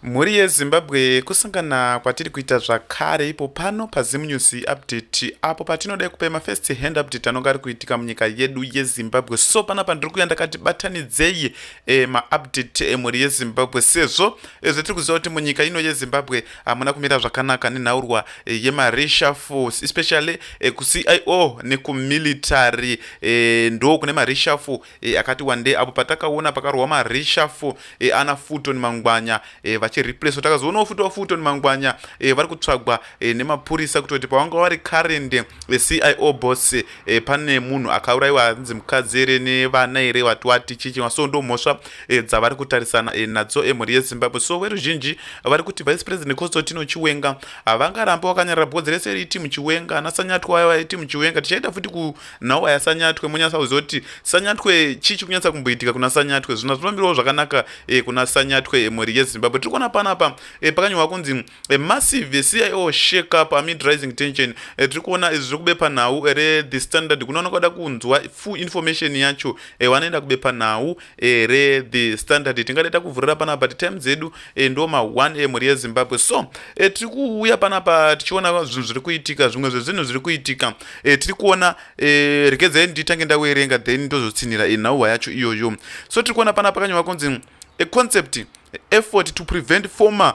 Mhuri yeZimbabwe kusangana kwatiri kuita zvakare ipo pano paZim News Update apo patinoda kupa mafirst hand update anonga ari kuitika munyika yedu yeZimbabwe so pana pandiri kuya ndakati batanidzei e, maupdate emhuri yeZimbabwe sezvo e, zvatiri kuziva kuti munyika ino yeZimbabwe hamuna kumira zvakanaka nenhaurwa e, yemareshafus especially e, kuCIO nekumilitary e, ndo kune mareshaful e, akati wande apo patakaona pakarohwa mareshafo e, eh, ana futon mangwanya e, vachireplacewa takazoonawo futi wafuton mangwanya e, vari kutsvagwa e, nemapurisa kutoti pavanga vari current e, cio boss e, pane munhu akaurayiwa anzi mukadzi here nevana here vati wati chichiwa so ndo mhosva e, dzavari kutarisana e, nadzo emhuri yezimbabwe so veruzhinji vari kuti vice president constantino chiwenga havangarambe wakanyarara bhodzi rese riti muchiwenga anasanyatwa ayo aiti muchiwenga tichaita futi ku nhau aya sanyatwe monyasa kuziva kuti sanyatwe chii chiri kunyatsa kumboitika kuna sanyatwe zvino zvinomirawo zvakanaka e, kuna sanyatwe e, mhuri yezimbabwe tiri kuona panapa e, pakanyorwa kunzi e, massive cio shake up amid rising tension e, tiri kuona izvi zviri kubepa nhau rethe standard kunoona kwada kunzwa full information yacho e, vanoenda kubepa nhau e, re the standard tingade takuvhurira panapa ti time dzedu e, ndo ma 1 e mhuri yezimbabwe so e, tiri kuuya panapa tichiona zvinhu zviri kuitika zvimwe zvezvinhu zviri kuitika e, tiri kuona e, regedzai nditange ndawerenga then ndozotsinhira e, nhauhwa yacho iyoyo so tiri kuona panapa kanyuma kunzi a concept effort to prevent former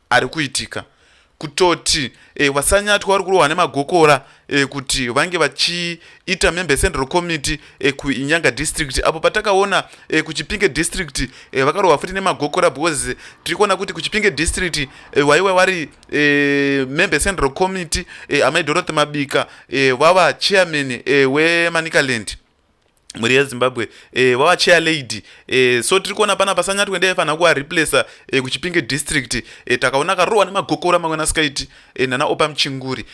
ari kuitika kutoti e, wasanyatwa vari kurohwa nemagokora e, kuti vange vachiita member central committee e, kuinyanga district apo patakaona e, kuchipinge district e, vakarohwa futi nemagokora because tiri kuona kuti kuchipinge district e, waiwa vari e, member central committee e, amai dorothy mabika e, vava chairman e, wemanicaland mhuri yezimbabwe e, vava chair lady e, so tiri kuona pana pasanyatwe ndaifanira kuvareplacer e, kuchipinge district e, takaona karohwa nemagokora mamwe nasikaiti e, nana opa muchinguri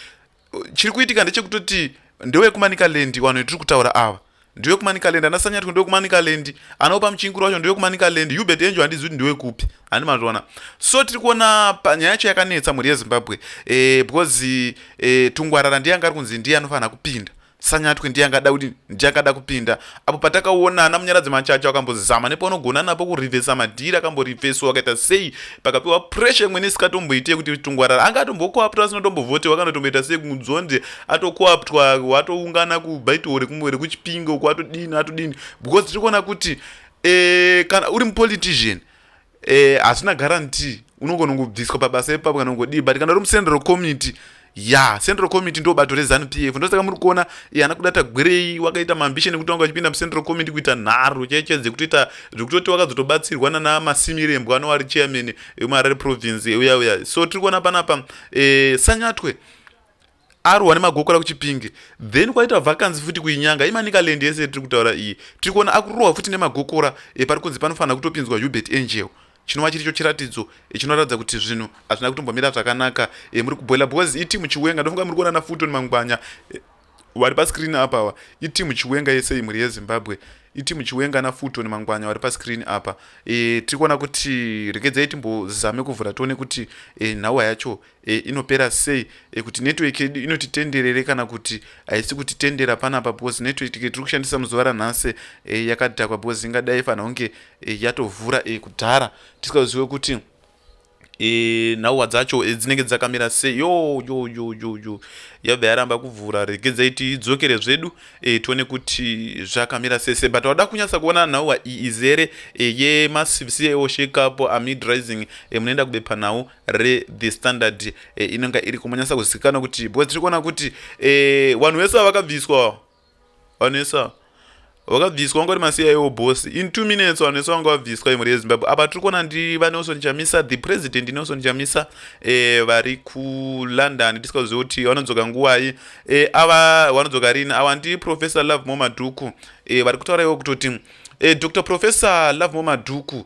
chiri kuitika ndechekutoti ndewekumanikalandi vanhu tiri kutaura ava ndewekumanikalandi ana sanyatwe ndewekumanikalandi anaopa muchinguri wacho ndewekumanikalandi hubert enjo handizi kuti ndewekupi handi mazviona so tiri kuona panyaya yacho yakanetsa mhuri yezimbabwe e, because e, tungwarara ndiye anga ari kunzi ndiye anofanira kupinda Sanyatwe ndiye angada kuti ndiye akada kupinda apo patakaonana munyaradzi machacho akambozama nepaunogona napo kurivhesa madhiri akamborivheswa akaita sei pakapiwa pressure imwene isikatomboite kuti tungwarara anga atombokoaptwa asina tombovotewa kana tomboita sei kunzonde atokoaptwa watoungana kubaito rekuchipinga uko atodini atodini because tiri kuona kuti eh, kana uri mupolitician eh hazvina guarantee unogona kungobviswa pabasa ipapo kana kungodii but kana uri mucentral committee ya central committee ndo bato rezanu p f ndosaka muri kuona ana kuda tagwirei wakaita maambisheni ekuti wanga uchipinda mucentral committee kuita nharo chaiche dzekutoita zvekutoti wakadzotobatsirwa nana masimirembwa anova ari chairman emuharare province euya uya so tiri kuona panapa e, sanyatwe arwa nemagokora kuchipinge then kwaita vakanzi futi kuinyanga imanikaland yese tiri kutaura iyi tiri kuona akurohwa futi nemagokora epari kunzi panofanira kutopinzwa hubert angel chinova chiricho chiratidzo chinoratidza kuti zvinhu hazvina kutombomira zvakanaka e, muri kuboila because itimu chiwenga ndofunga muri kuona nafuton mangwanya e, vari pascreen apa awa itimu chiwenga yese imhuri yezimbabwe itimu chiwenga nafuton mangwanya vari pascreen apa e, tiri kuona kuti regedzai timbozame kuvhura tione kuti e, nhawa yacho e, inopera sei e, kuti network yedu inoti tenderere kana kuti haisi kuti tendera panapa because network tiri kushandisa muzuva ranhasi e, yakadhakwa because ingadai fanira kunge e, yatovhura e, kudhara tisikazive kuti e, nhauwa dzacho e, dzinenge dzakamira sei yo yo yo yo yo yabva yaramba kuvhura regedzai tidzokere zvedu e, tione kuti zvakamira sese but wada kunyatsa kuona nhauwa iyi izere e, yemacvc eoshekapo amid rising e, munoenda kubepanhau rethe standard e, inonga iri kumanyasa kuzikanwa kuti because tiri kuona kuti e, vanhu vese va vakabviswa vanhu vese ava vakabviswa vanga ri masiyaiwo bos in two minutes vanhu vese vanga vabviswa imhuri yezimbabwe apa tiri kuona ndi vanelson chamisa the president nelson chamisa e, vari kulondon tisikazive kuti vanodzoka nguvai e, ava vanodzoka rini ava ndi professor love mo madhuku e, vari kutaura ivo kutoti e, dr professor love mo madhuku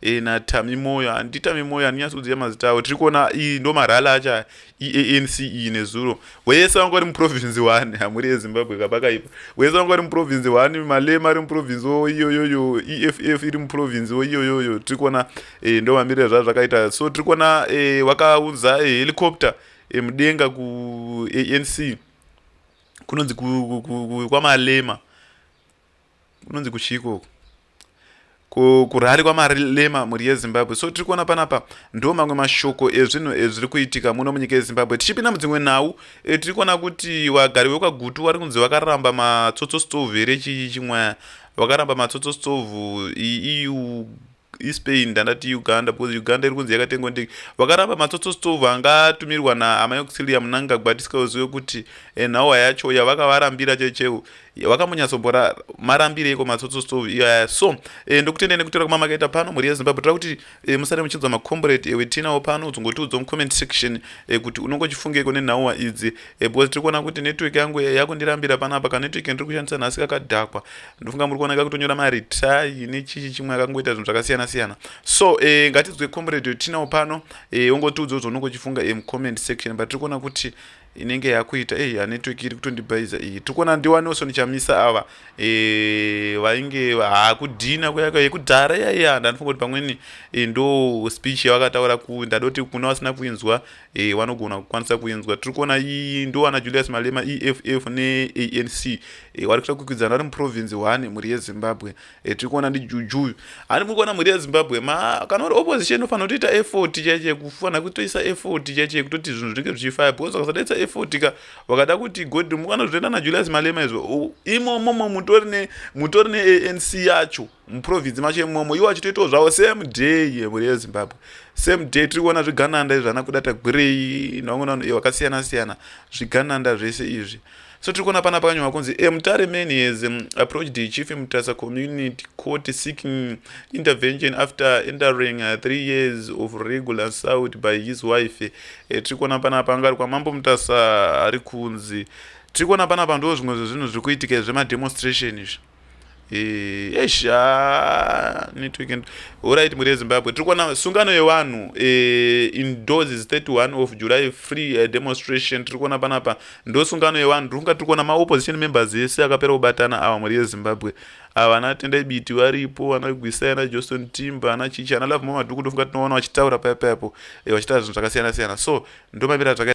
e, eh, natami moyo handi tami moyo handinyatsi kuziva mazita avo tiri kuona iyi ndo marhala acha eanc iyi nezuro wese vanga vari muprovince one hamuri yezimbabwe kapakaipa wese vanga vari muprovince one malema ari muprovince wo iyoyoyo eff iri muprovince wo iyoyoyo tiri kuona e, ndo mamirire zvazvo zvakaita so tiri kuona e, wakaunza e, helicopter e, mudenga kuanc kunonzi kwamalema ku, ku, ku, ku, kunonzi kuchii ikoko kurari kwamarema mhuri yezimbabwe so tiri kuona panapa ndo mamwe mashoko ezvinhu ezviri kuitika muno munyika yezimbabwe tichipinda mudzimwe nhau e, tiri kuona kuti wagari wekwagutu wari kunzi vakaramba matsotso stove here chii chimwaya vakaramba matsotso stove iu ispain ndandati uganda because uganda iri kunzi yakatengwa ndege vakaramba matsotso stove anga atumirwa naamai auxilia munangagwa tisikazive kuti eh, nhawa yacho yavakavarambira checheu vakamonyatsombora marambire iko matsotso stove iyaya so eh, ndokutendei nekutora kuma makaita pano mhuri yezimbabwe tira kuti eh, musare muchinzwa macombrate ewe tinawo pano dzongotiudza mucomment section kuti unongochifungeko nenhauwa idzi because tiri kuona kuti network yangu yakundirambira panapa kanetwork ndiri kushandisa nhasi kakadhakwa ndofunga muri kuona kakutonyora maritayi nechichi chimwe akangoita zvinhu zvakasiyana siyana so e, ngatidzwe comrade yotinawo pano e, eh, ongotiudzawo zvaunenge uchifunga e, mucomment section but tiri kuona kuti inenge yakuita e, hanetwork iri kutondibhaiza iyi tiri kuona ndiwaneoso ndichamisa ava e, vainge hakudhina kuyaka yekudhara yaiya ndanofunga kuti pamweni e, ndo speech yavakataura ku ndadoti kuna vasina kuinzwa e, vanogona kukwanisa kuinzwa tiri kuona iyi ndo ana julius malema eff neanc e, eh, vari kuita kukwidzana vari muprovince one mhuri yezimbabwe e, tiri kuona ndijujuyu ani muri kuona mhuri yezimbabwe ma kana uri opposition unofanira kutoita effort chaiche kufanira kutoisa effort chaiche kutoti zvinhu zvinenge zvichifaya because vakasadaisa effort ka vakada kuti god mukana zvotoenda najulius malema izvo imomomo mutori neanc yacho muprovince macho imomo iwo achitoitawo zvavo same day yemhuri yezimbabwe same day tiri kuona zvigananda izvi ana kuda tagwirei nevamwe vakasiyana siyana zvigananda zvese izvi so tiri kuona pana pakanyorwa kunzi a mutare man has um, approached the chief mutasa community court seeking intervention after entering uh, three years of regular assault by his wife eh, tiri kuona pana pangari kwamambo mutasa ari kunzi tiri kuona pana pandoo zvimwe zvezvinhu zviri kuitika zvemademostration izvi Eh, eish ah, network and alright mhuri yezimbabwe tiri kuona sungano yevanhu eh, indoors is 31 of july free eh, demonstration tiri kuona panapa ndo sungano yevanhu tiri kunga tiri kuona maopposition members ese akapera kubatana awa mhuri yezimbabwe ava ana tendai biti varipo vana gwisa ana johnston timba ana chichi ana love mamadhuku ndofunga tinoona vachitaura paya payapo eh, vachitaura zvinhu zvakasiyana siyana so ndomamira zvaka